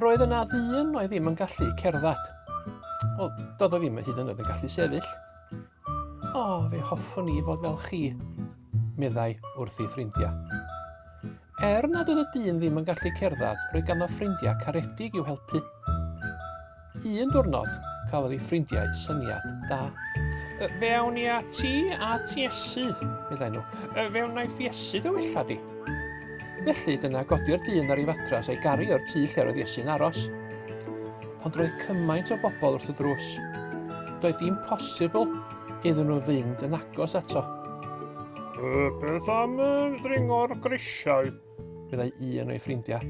roedd yna ddyn oedd ddim yn gallu cerdded. Wel, doedd o ddim yn hyd yn oed yn gallu sefyll. O, oh, fe hoffwn i fod fel chi, meddai wrth ei ffrindiau. Er nad oedd y dyn ddim yn gallu cerdded, roedd ganddo ffrindiau caredig i'w helpu. Un diwrnod, cafodd ei ffrindiau syniad da. Y, fe awn ni a ti a ti esu, meddai nhw. Y, fe wna i ffiesu dy wella di. Felly, dyna godi'r dyn ar ei fatras a'i garu o'r tu lle roedd Iesu'n aros. Ond roedd cymaint o bobl wrth y drws. Doedd dim posibl iddyn nhw fynd yn agos ato. Beth am dringo'r grisiau? meddai un o'i ffrindiau.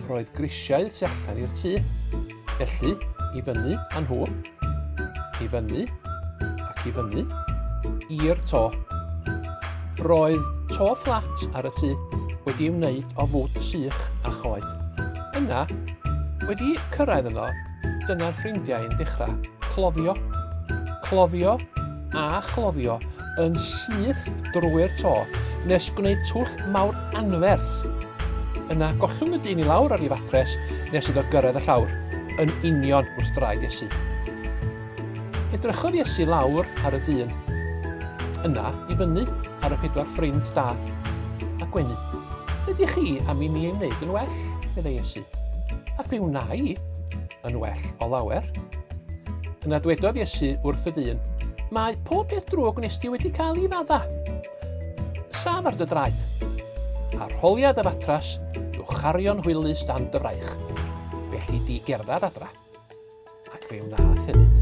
Roedd grisiau tu allan i'r tŷ, felly i fyny â nhw, i fyny ac i fyny, i'r to. Roedd to fflat ar y tŷ wedi wneud o fwd sych a choed. Yna, wedi cyrraedd yno, Dyna'r ffrindiau yn dechrau. Cloddio, cloddio a chloddio yn syth drwy'r to nes gwneud twll mawr anferth. Yna gollwng y dyn i lawr ar ei fatres nes iddo gyrraedd y llawr, yn union wrth draed Iesu. Edrychodd Iesu lawr ar y dyn, yna i fyny ar y pedwar ffrind da a gwenu. Ydych chi am i mi ei wneud yn well? meddai Iesu. A be wna i? Yn well o lawer. Yna dwedodd Iesu wrth y dyn, Mae pob peth drwg wnes di wedi cael i fadda. Saf ar dy draed. A rholia dy fatras i'w chario'n hwylus dan dy fraich. Felly di gerdded adra. Ac fe wnaeth hefyd.